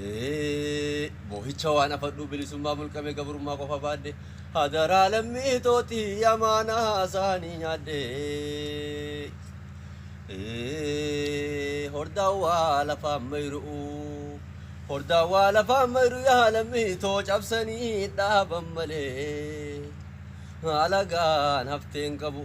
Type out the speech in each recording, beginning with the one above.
Ee, Moohicha waan afadhu bilisummaa mulqame gabrummaa qofa baadhe hadaraa lammii tootii amaanaa isaanii nyaadhe. Ee, Hordaawwaa lafaan mayru'u hordaawwaa lafaan mayru yaa lammii too cabsanii dhaaban malee alagaan hafteen qabu.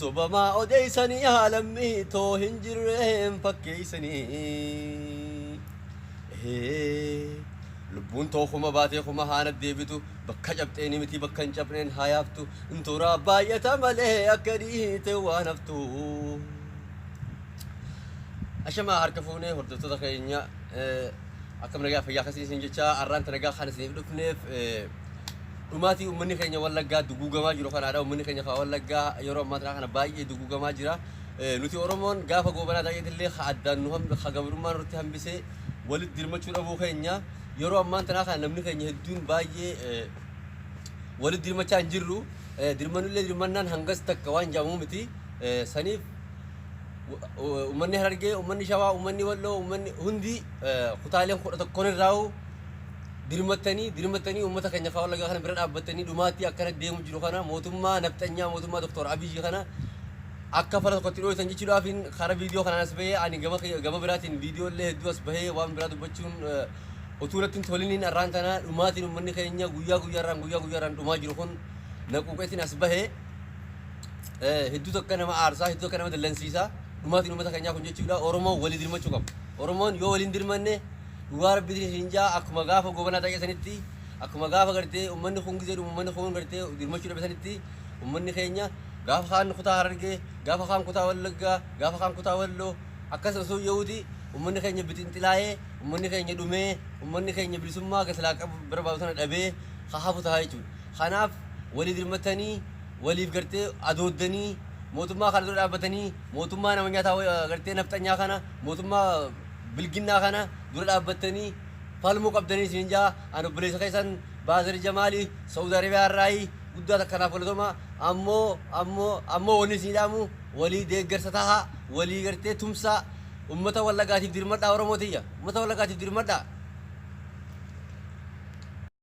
Sobamaa odeessanii yaa lammii too hin jirree hin fakkeessanii. Lubbuun too kuma baatee kuma haa naddeebitu bakka cabxeeni miti bakka hin cabneen haa yaaftu intoraa baay'ata malee akka dhiite waan haftu. Ashamaa harka fuunee hordoftoota keenya akkam nagaa fayyaa akkasii isin jechaa arraanta nagaa kan isiniif dhufneef dhumaatii uummanni keenya Wallaggaa duguugamaa jiru kanaadha. Uummanni keenya kan Wallaggaa yeroo ammaa tanaa kana baay'ee duguugamaa jira. Eh, Nuti Oromoon gaafa goobanaa taa'eet illee ka addaan nu hambi- ka gabrummaa nurratti hambisee walitti dirmachuu dhabuu keenya yeroo ammaan tanaa kana namni keenya hedduun baay'ee eh, walitti dirmachaa hin jirru. Eh, Dirmannullee dirmannaan hangas takka waan jaamuu miti. Eh, Saniif uummanni harargee uummanni shawaa uummanni walloo uummanni hundi eh, kutaaleen kudha tokkoon irraa'u dirmattanii dirmattanii uummata keenya kaa wallaggaa kana bira dhaabbattanii dhumaattii akkana deemu jiru kana mootummaa nafxanyaa mootummaa doktor Abiyyi kana akka fala tokkotti dhooytan jechuudhaafin kara viidiyoo kanaan as bahee ani gama kiyya- gama biraatiin viidiyoo illee hedduu as bahee waan biraa dubbachuun eh, utuu natti hin toliniin arraan tana dhumaatiin uummanni keenya guyyaa guyyaarraan guyyaa guyyaarraan dhumaa jiru kun na quuqeetiin as bahee Eh, hedduu tokko nama aarsaa hedduu tokko nama dallansiisaa dhumaatiin uummata keenyaa kun jechuudha oromoon walii dirmachuu qabu oromoon yoo waliin dirmanne Dhugaa rabbi isin isin jaa akkuma gaafa gobanaa xaqee sanitti akkuma gaafa gartee ummanni kun gizee dhumu ummanni kun gartee dirmachuu dhabe sanitti ummanni keenya gaafa kaan kutaa harargee gaafa kaan kutaa wallaggaa gaafa kaan kutaa walloo akkas osoo ya'uuti ummanni keenya bixinxilaa'ee ummanni keenya dhumee ummanni keenya bilisummaa gasilaa qabu barbaadu sana dhabee haa hafu tahaa jechuudha. Kanaaf walii dirmattanii waliif gartee adooddanii mootummaa kana dura dhaabbatanii mootummaa nama nyaataa gartee nafxanyaa kana mootummaa bilginnaa kana dura dhaabbattanii falmuu qabdanii isiniin ja'a an obboleessa keessan baazari jamaali sa'uud arabiyaa irraayi guddaa takka naaf galatoma ammoo ammoo ammoo wanni isinii dhaamu walii deeggarsa taha walii gartee tumsaa ummata wallagaatiif dirmadhaa oromoo tiyya ummata wallagaatiif dirmadhaa